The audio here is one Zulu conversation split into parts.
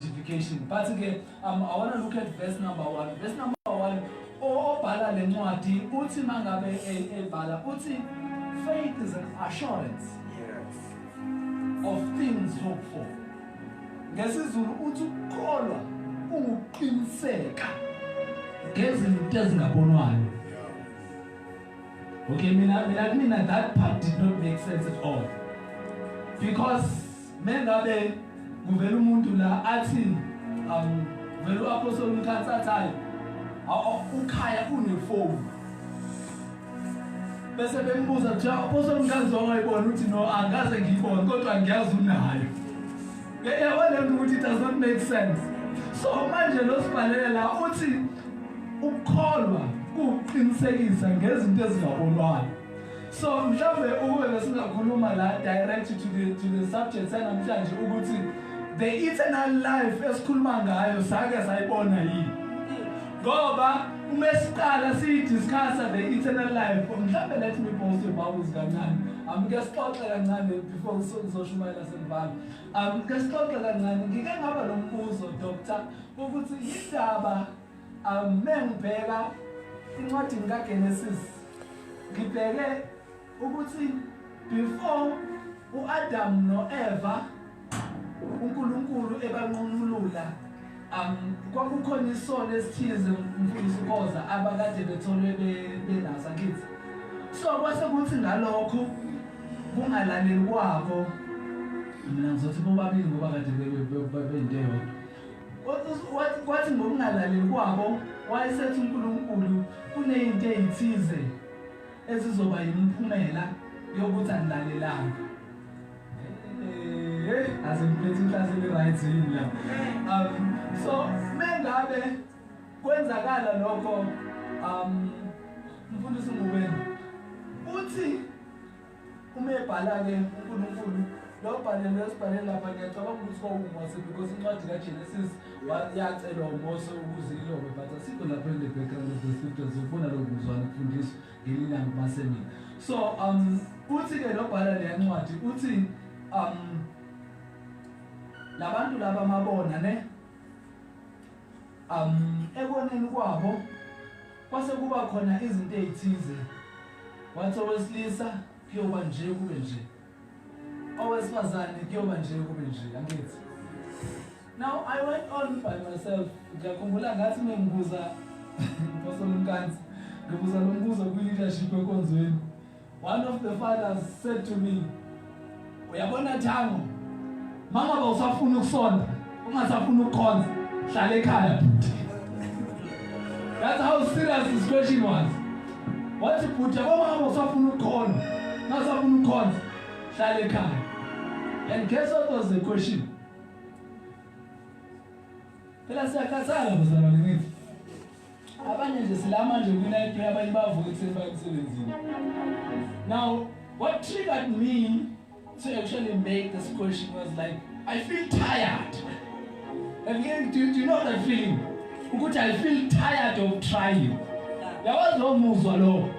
justification but ke um, i want to look at verse number 1 verse number 1 obhala le ncwadi uthi mangabe ebhala uthi faith is an assurance yes of things hoped for ngesizulu uthi ukukholwa unguqiniseka ngezinto ezingabonwayo okay mina mina mina that part did not make sense at all because Mengabe kuvela umuntu la athi um vele uApostle Mkhatsi athi hayi ukhaya unefoni bese bembuza kuthiwa Apostle Mkhatsi wangayibona ukuthi no angaze ngiyibone kodwa ngiyazi unayo yabona lento ukuthi it does not make sense so manje lo sibhalele la uthi ukukholwa kuqinisekisa ngezinto ezingabonwayo So mhlawumbe ukube besingakhuluma la direct to the to the subject sanamhlanje ukuthi the eternal life esikhuluma ngayo sake sayibona yini. Ngoba uma siqala siyidiscussa the eternal life mhlawumbe let me post your bubbles kancane. Amke sixoxe kancane before sizoshumayela sembala. Amke sixoxe kancane ngike ngaba lombuzo doctor ukuthi yindaba Amen bheka incwadini kaGenesis ngibheke ukuthi before uAdam noEva uNkulunkulu ebanqunulula um kwakukhona isono esithize mfundisi uKoza abakade betholwe benasa kithi so kwase kuthi ngalokho kungalaleli kwabo mina ngizothi bobabili ngoba kade bebeyinto eyodwa Wathi ngokungalaleli kwabo wayesethi uNkulunkulu kunezinto ezithize ezizoba yimiphumela yokuthi angilalelanga. Eh, aze ngiphethe inhlase le-right yini la. Um, so mengabe kwenzakala lokho um mfundisi ngubeni uthi Uma ebhala-ke uNkulunkulu lo bhalelo esibhale lapha ngiyacabanga ukuthi kwawuMose because incwadi kaGenesis yacelwa uMose ukuze ilobe but asikho lapho in the background of the scriptures ufuna lokhu kuzwana ukufundiswa ngelinye ilanga kumasemini so um uthi-ke nobhala leya ncwadi uthi um labantu laba mabona ne um ekoneni kwabo Kwase kuba khona izinto ezithize. Wathi owesilisa kuyoba nje kube nje. Owesifazane kuyoba nje kube nje, angithi. Now I went on by myself. Ngiyakhumbula ngathi mengibuza Mfosolo Mkansi, ngibuza lo mbuzo kwi-leadership enkonzweni. One of the fathers said to me, uyabona Thango, mama bawusafuna ukusonda, ungasafuna ukukhonza, hlala ekhaya bhuti. That's how serious this question was. Wathi bhuti, yabona mama usafuna ukukhonza, ungasafuna ukukhonza, hlala ekhaya. And guess what was the question? Phela siyakhathala bazalwane ngithi Abanye nje silama nje kwi night prayer abanye bavuka ekuseni baye emsebenzini. Now what triggered me to actually make this question was like I feel tired. And then do, do you know that feeling? Ukuthi I feel tired of trying. Yawazi lowo muzwa lowo.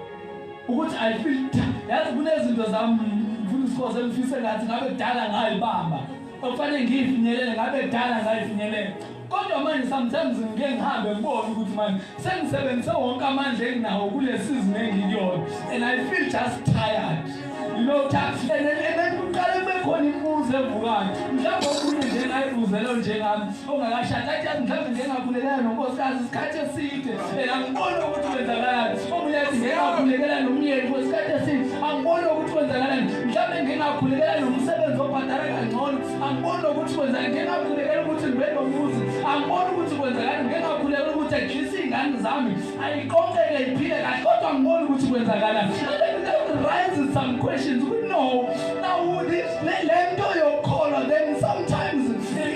Ukuthi I feel tired. Yazi kunezinto zami ngifuna isikhoze engifise ngathi ngabe kudala ngayibamba. Okufanele ngiyifinyelele ngabe kudala ngayifinyelele. Kodwa manje sometimes ngike ngihambe ngibone ukuthi manje sengisebenzise wonke amandla enginawo kule season engikuyona and I feel just tired. You know tax and then kuqale kube khona imibuzo evukayo. Mhlawumbe okunye nje ngayibuzelo njengami ongakashadi athi yazi mhlawumbe nje ngakhulekela nonkosikazi isikhathi eside and angiboni ukuthi kwenzakalani. Omunye athi ngeke ngakhulekela nomyeni for isikhathi eside angiboni ukuthi kwenzakalani. Mhlawumbe ngeke ngakhulekela nomsebenzi obhadala kangcono. angiboni ukuthi kwenzeka ngeke ngakhulekela ukuthi ngibe nomuzi angiboni ukuthi kwenzeka ngeke ngakhulekela ukuthi ajise iy'ngane zami ayiqoqeke iphile kahle kodwa angiboni ukuthi kwenzakala raises some questions we know now this le nto yokukholwa then sometimes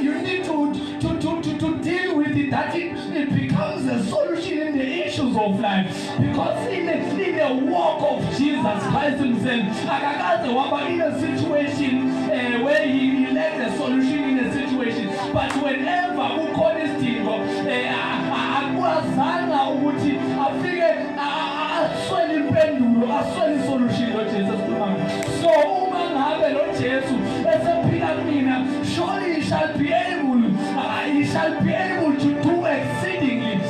you need to, to, to, to, to deal with it that it, it becomes a solution in the issues of life Because in the, in the walk of Jesus Christ himself, akakaze waba in a situation uh, where he, he led the solution in a situation. But whenever kukhona isidingo eh, akwazanga ukuthi afike aswele impendulo, aswele isolution lo Jesu esikhuluma. So uma ngabe lo Jesu esephila mina, surely he shall be able, uh, he shall be able to do exceedingly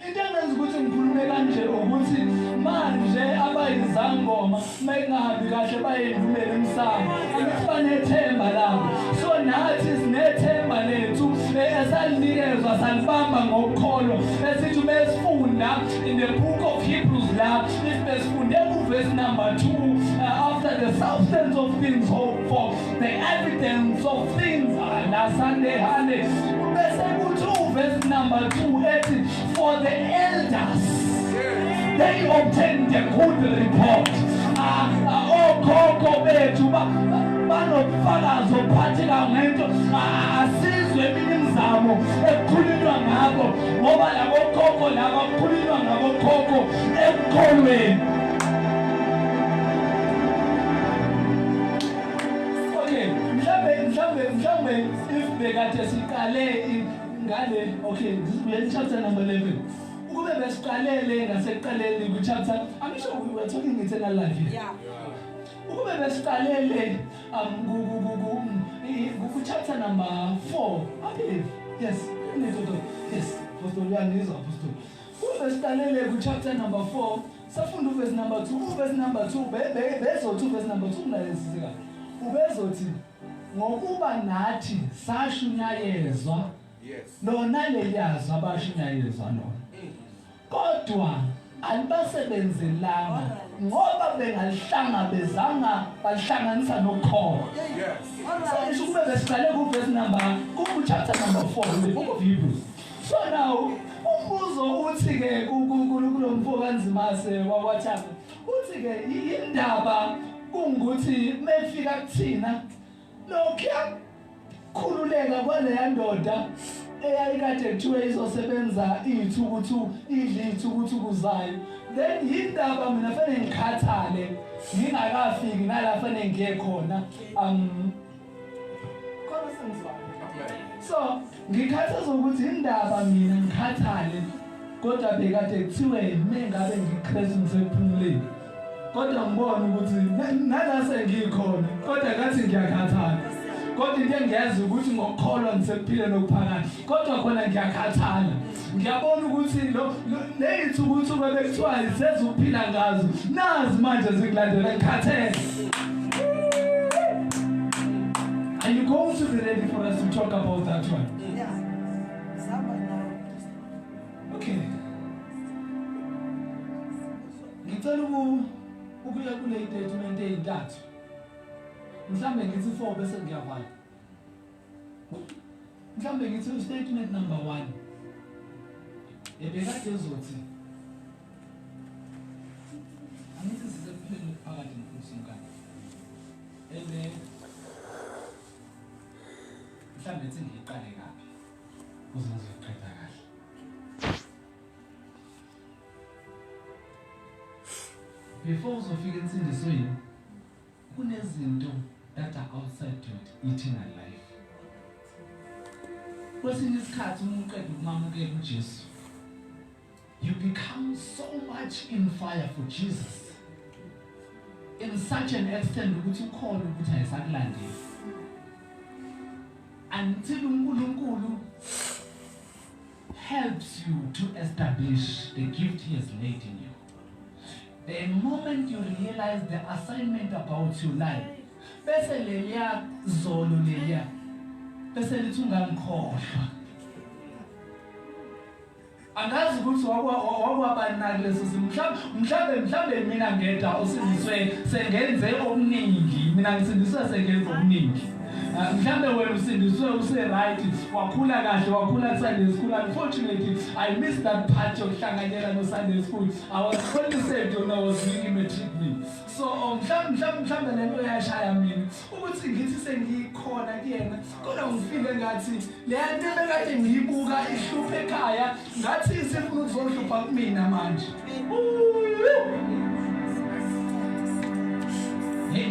Into engenza ukuthi ngikhulume kanje ukuthi manje abayizangoma mayingahambi kahle bayendumela emsamo angithi banethemba labo so nathi sinethemba lethu esalinikezwa salibamba ngokukholwa esithi uma sifunda in the book of Hebrews la if besifunde kuvesi number 2 uh, after the substance of things hoped for The evidence of things are lasande hande bese kuthi uverse number 2 ethi for the elders they obtained a good report ah, ah, okhokho bethu banobufakazi obuphatheka ngento ah, asizwe eminye imizamo ekukhulunywa ngakho ngoba labo khokho laba kukhulunywa ngabo khokho ekukholweni okay mhlambe mhlambe mhlambe if bekade siqale ngale okay ngizibuye chapter number 11 ukube besiqalele ngasekuqaleni ku chapter i'm sure we were talking eternal life here yeah ukube besiqalele um ku ku ku ku chapter number 4 i believe yes yes apostol uyangizwa apostol ukube siqalele ku chapter number 4 Safunda uvesi number 2, uvesi number 2, be be bezothi uvesi number 2 kunalesisi kahle. Ubezothi ngokuba nathi sashunyayezwa yes lona leliyazwa abashunyayezwa lona mm. kodwa alibasebenzelanga ngoba bengalihlangabezanga balihlanganisa nokholo yes so isho kube besiqale ku verse number ku chapter number 4 book of Hebrews Farao umbuzo uthi ke kulomfo kaNzimase wakwaThanga uthi ke indaba kungukuthi mefika kuthina lokya khululeka kwaleya ndoda eyayikade kuthiwe izosebenza iyithukuthu idle iyithukuthuku zayo then yindaba mina fanele ngikhathale ngingakafiki nala fanele ngiye khona um so ngikhathazwa ukuthi indaba mina ngikhathale kodwa bekade kuthiwe yimi ngabe ngikristu ngisephumuleni kodwa ngibona ukuthi nalase ngikhona kodwa kathi ngiyakhathala kodwa into engiyazi ukuthi ngokukholwa ngisekuphile nokuphakade kodwa khona ngiyakhathala ngiyabona ukuthi lo neyithuba uthuba bekuthiwa sezuphila ngazo nazi manje zikulandela ngikhathele Are you going to be ready for us to talk about that one? Yeah. Okay. Ngicela ukuya kule statement ezintathu. Mhlambe ngithi 4 bese ngiyavala. mhlawumbe ngithi ustatement number one ebekade ezothi angithi sisekuphele phakathi ngiphuse inkani ebe mhlawumbe ethi ngiyiqale kabi kuze ngizoyiqeda kahle before uzofika ensindisweni Kunezinto that are outside to eternal life. Kwesinye isikhathi uma uqeda ukumamukela uJesu, you become so much in fire for Jesus in such an extent ukuthi ukhona ukuthi ayisakulandeli until uNkulunkulu helps you to establish the gift he has laid in you. The moment you realize the assignment about your life, bese leliya zolo leliya bese lithi ungangikhohlwa. Angazi ukuthi wakwabanaki leso simo mhlawumbe mhlawumbe mina ngedwa osindiswe sengenze okuningi mina ngisindiswe sengenze okuningi Ah, mhlambe wena usindiswe use-right wakhula kahle wakhula ku-sunday school unfortunately i miss that part yokuhlanganyela no-sunday school i was only saved when i was doing i-matric me so oh, mhlawumbe le nto yashaya mina ukuthi ngithi sengikhona kuyena kodwa ngifile ngathi le nto ebekade ngiyibuka ihlupha ekhaya ngathi isifuna ukuzohlupha kumina manje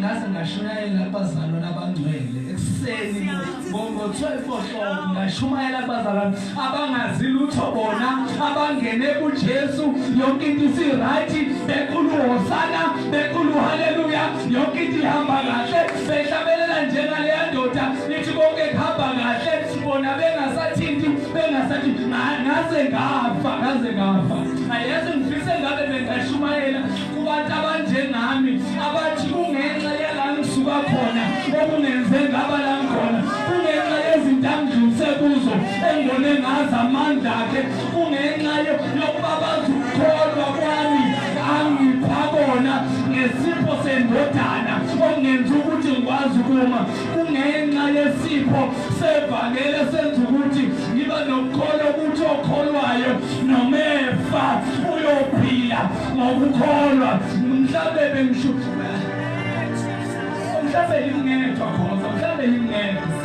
ngaze ngashumayela kubazalwane abangcwele ekuseni ngo-12 o'clock ngashumayela kubazalwane abangazi lutho bona abangene kujesu yonke into isirayithi bekhulu hosana bekhulu haleluya yonke into ihamba kahle Behlabelela njengaleya ndoda ithi konke kuhamba kahle bona bengasathinti bengasathi ngaze ngafa ngaze ngafa ayeze ngifise ngabe bengashumayela kubantu abanjengami abathi kungenxa yala ngisuka khona okungenze ngaba la ngikhona kungenxa yezinto angidlulise kuzo engibone ngazi amandla akhe kungenxa yokuba bazi ukukholwa kwami angipha kona ngesipho sendodana okungenza ukuthi ngikwazi ukuma kungenxa yesipho sevangeli esenza ukuthi ngiba nokukholwa ukuthi okholwayo noma efa uyophila ngokukholwa mhlawumbe bengisho mhlawumbe yingedwa khona mhlawumbe yingedwa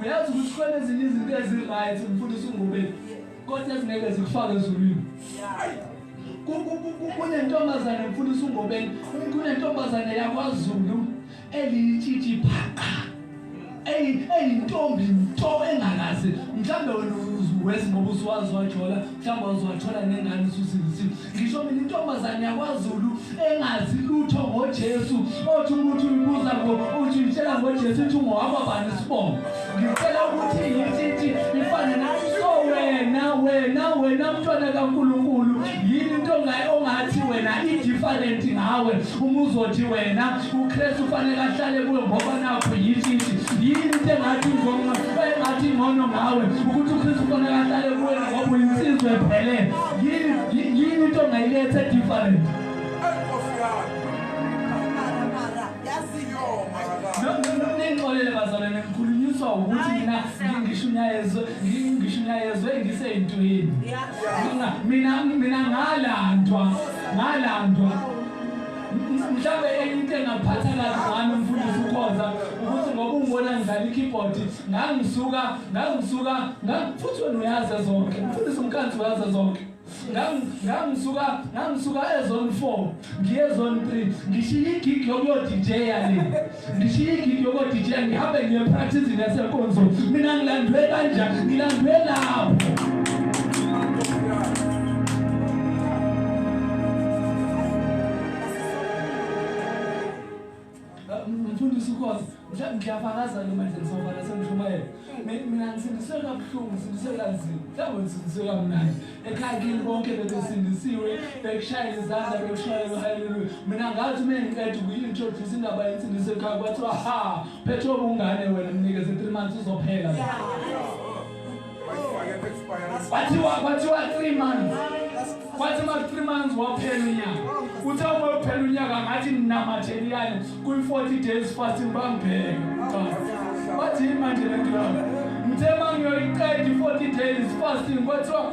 uyazi ukuthi khona ezinye izinto eziright mfundisi ungubeni kodwa ezingeke zikufake ezulwini kunentombazane mfundisi ungobeni kunentombazane yakwazulu eliyitshitshi phaqa eyintombi nto engakazi mhlawumbe wena uwezi ngoba usuwazi wajola mhlawumbe waziwathola nengane ususilisile Ngisho mina intombazane yakwaZulu engazi lutho ngoJesu othi ukuthi uyibuza ngo uthi uyitshela ngoJesu uthi ungowakwa bani isibongo ngicela ukuthi yithi ifane nathi so wena wena wena mntwana kaNkulunkulu yini into ongathi wena i-different ngawe uma uzothi wena uKristu ufanele ahlale kuwe ngoba nakho yithi yini into engathi ngcono ngawe ukuthi uKristu ufanele ahlale kuwe ngoba uyinsizwa ephelele yini yini into ongayiletha different ningixolele bazalwane ngikhulunyiswa ukuthi mina ngisho umyalezo ngisho umyalezo engiseyintweni mina mina ngalandwa ngalandwa mhlawumbe enye into engaphatha kazi ngami umfundisi ukhonza ukuthi ngoba ungibona ngidlala ikeyboard ngangisuka ngangisuka ngangiphuthwe noyaza zonke mfundisi umkanzi waza zonke ngangisuka ngangisuka ezone 4 ngiye zone 3 ngishiye igig yokuyo DJ yale ngishiye igig yokuyo DJ ngihambe ngiye practice nasenkonzo mina ngilandwe kanja ngilandwe lapho mfundisi ukhosi mhlawumbe ngiyafakaza noma nje ngisofa nasemshumayela mina ngisindiswe kabuhlungu ngisindiswe kanzima mhlawumbe ngisindiswe kamnandi ekhaya kini bonke bebesindisiwe bekushayela izandla bekushayela haleluya mina ngathi uma ngiqeda ukuyi-introduce indaba yensindiso ekhaya kwathiwa ha phethe obungane wena mnikeze three months uzophela kwathiwa kwathiwa 3 months kwathi ma 3 months waphela unyaka uthe uma uphela unyaka ngathi ninamatheliyane kwi 40 days fasting bangibheke wathi manje le nto ngithe mangiyoyiqeda i 40 days fasting kwathiwa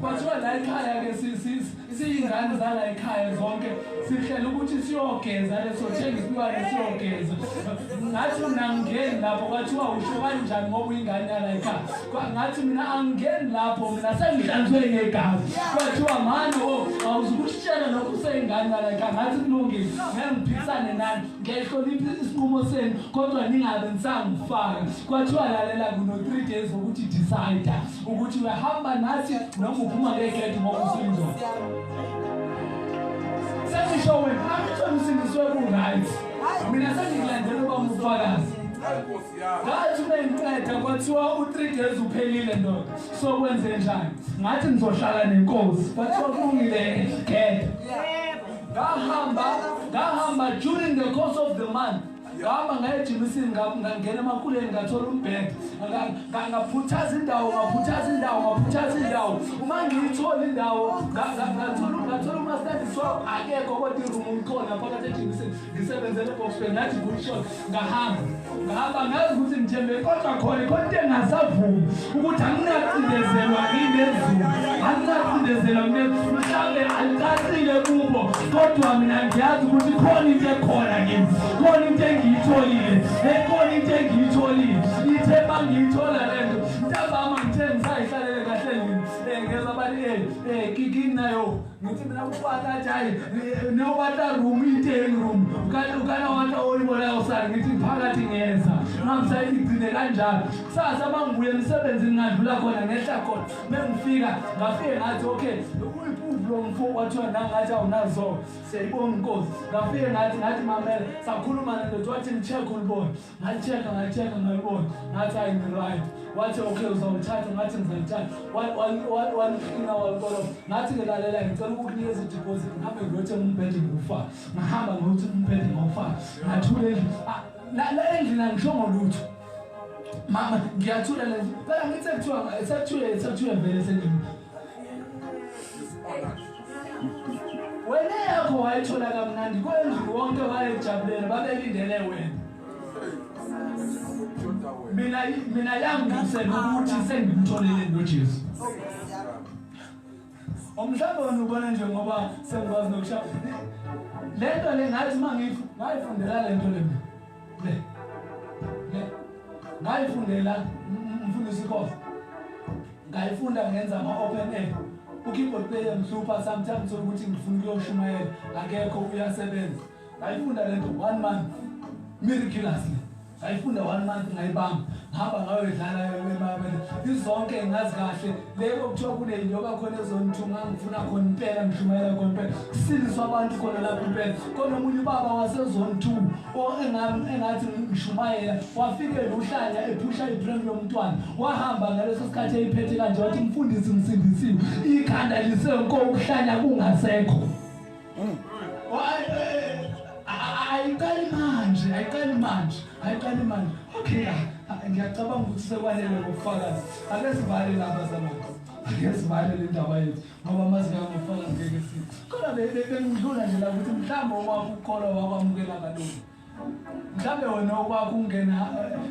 Kwathiwa la ekhaya ke siyingane zala ekhaya zonke sihlela ukuthi siyogeza leso thenga isilwane siyogeza ngathi mina angingeni lapho kwathiwa usho kanjani ngoba uyingane yala ekhaya ngathi mina angingeni lapho mina sengihlanzwe ngegazi kwathiwa mani o oh, awuzukushitshela lokho useyingane yala ekhaya ngathi kulungile ngangiphikisane nani ngiyayihlonipha isinqumo senu kodwa ningabe nisangifaka kwathiwa lalela kuno-three days wokuthi decide ukuthi uyahamba nathi noma uphuma ngegedi ngoba usindoda sesisho wena angithole usindiswe ku-right mina sengikulandela uba mufakazi ngathi ubengiqeda kwathiwa u-three days uphelile ndoda sokwenze njani ngathi ngizohlala nenkosi kwathiwa kulungile gede ngahamba ngahamba during the course of the month ngahamba ngaye ejimisini ngangena emakuleni ngathola umbhede ngaphuthaza indawo ngaphuthaza indawo ngaphuthaza indawo uma ngiyithola indawo ngathola umastandisi wabo akekho kodwa irumu umkhona phakathi ejimisini ngisebenzele ebokspeni ngathi kushona ngahamba ngahamba ngazi ukuthi ngithembe kodwa khona khona into engasavumi ukuthi anginacindezelwa nginezulu anginacindezelwa nginezulu mhlawumbe alicacile kubo kodwa mina ngiyazi ukuthi khona into ekhona kimi khona into engiyitholile ekhona into engiyitholile ithe ma ngiyithola le nto ntambama ngithe ngisayihlalele kahle yini um ngeza bani um um kikini nayo ngithi mina kukwata njani newata room iyiteni room ukana wata oyibonayo sani ngithi phakathi ngenza ngamsa igcine kanjalo kusasa uma ngibuye emsebenzini ngadlula khona ngehla khona mengifika ngafike ngathi okay uyiphuvu lo mfo kwathiwa nangathi awunazo siyayibonga inkosi ngafike ngathi ngathi mamela sakhuluma nendoda wathi ngicheck ulibona ngalitsheka ngalitsheka ngalibona ngathi ayi ngiright wathi okay uzawuthatha ngathi ngizalithatha waliqina walikoloba ngathi ngelalela ngicela ukukunikeza ideposit ngihambe ngiyothe umbhede ngokufaka ngahamba ngokuthi umbhede ngokufaka ngathula endlini ah, la endlini angishongo lutho mama ngiyathula le phela ngithi sekuthiwa sekuthiwe sekuthiwe vele sendlini wena yakho wayithola kamnandi kwendlu wonke wayejabulele babelindele wena mina mina yangisela ukuthi sengimtholele noJesu umhlaba wona ubona nje ngoba sengikwazi nokushaya lento le ngathi uma ngiyifundela lento le mina ngayifundela mfundisi khoza ngayifunda ngenza ama-open air ukeyboard player mhlupha sometimes ukuthi ngifuna ukuyoshumayela akekho uyasebenza ngayifunda le nto one month miraculous le ngayifunda one month ngayibamba ngihamba ngayoyidlala yona imabele izonke ngazi kahle Lebo kuthiwa kunento yoba khona ezonithunga ngifuna khona impela ngishumayela khona impela kusindiswa abantu khona lapho impela khona omunye ubaba wasezonithuku engathi ngishumayela wafike luhlanya ephusha ibrem lomntwana wahamba ngaleso sikhathi eyiphethe kanje wathi mfundisi ngisindisiwe ikhanda lisenko ukuhlanya kungasekho Mm. ayiqali manje ayiqali manje ayiqali manje okay ngiyacabanga ukuthi sekwanele ngokufakazi ake sivale laba zamanje ake sivale le ndaba yethu ngoba mazi ngangofakazi ngeke sithi kodwa bengidlula nje la ukuthi mhlawumbe owakukholwa wakwamukela kalungi mhlawumbe wena okwakho ungena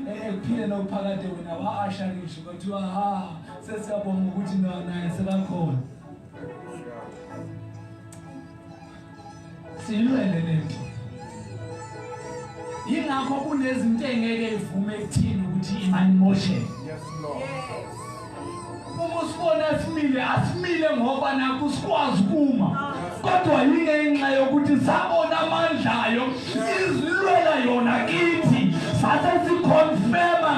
eh, eh, ekuphileni okuphakade wena wa-asha ngisho kwathiwa ha sesiyabonga ukuthi naye sekakhona silwele le nto yingakho kunezinto engeke ivume ekuthini ukuthi imani mosheke Uma usibona simile asimile ngoba nakho sikwazi kuma kodwa yingenxa yokuthi sabona amandla ayo izilwela yona kithi sase sikhonfema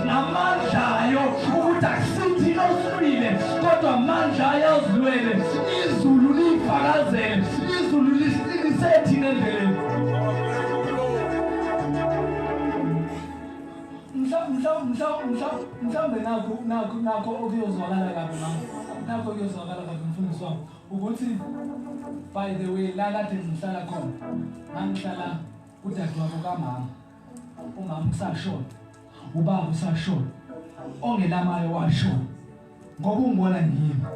ngamandla ayo ukuthi akusithi osilwile kodwa amandla ayo azilwele izulu liyifakazele izulu lisiqinise thina endleleni mhlawumbe nakho nakho nakho okuyozwakala kabi mama nakho okuyozwakala kabi mfundisi wami ukuthi by the way la kade ngihlala khona ngangihlala udadewabo kamama umama usashona ubaba usashona ongelamayo washona Ngoba ungibona ngimi.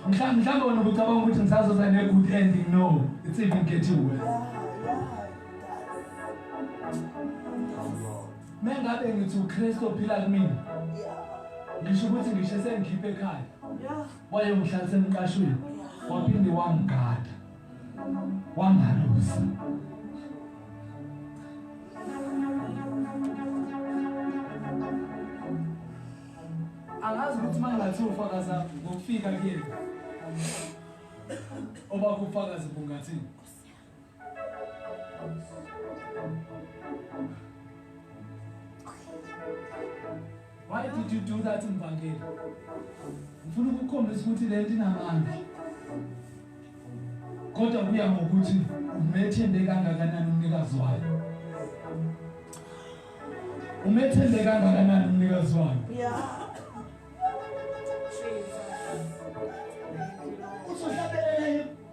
Mhlawumbe mhlawumbe wena ubucabanga ukuthi ngisazoza ne good ending no. It's even getting worse. Mengabe ngithi uKristu ophila kumina. Ngisho ukuthi ngisho sengikhiphe ekhaya. Wayongihlalisa emqashweni. Waphinde wangigada. wangalusa angazi ukuthi mangathi ufakaza ngokufika kuyena oba kufakaza bungathini Why did you do that Mvangeli? Ngifuna ukukhombisa ukuthi lento inamandla. Kodwa kuya ngokuthi umethembe kangakanani umnikazi wayo. Umethembe kangakanani umnikazi wayo? Yeah.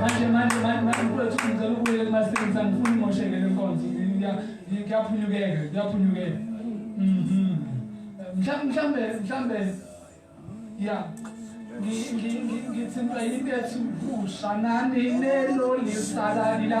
manje manje manje mfowethu ngicela ukubuyela kumasebenzisa ngifuna imosheke le nkonzo ngiyaphunyukeka ngiyaphunyukeka mhm. mhlawumbe mhlawumbe ya ngithintwa yintethu kusha nani lelo lisalalila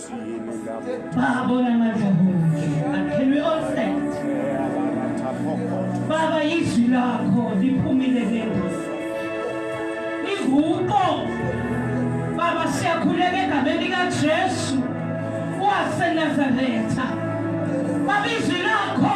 Babona madlovu akhelwe onset baba izwi lakho liphumile ngengozi linguqo baba siyakhuleka egameni likajesu wasenazaretha baba izwi lakho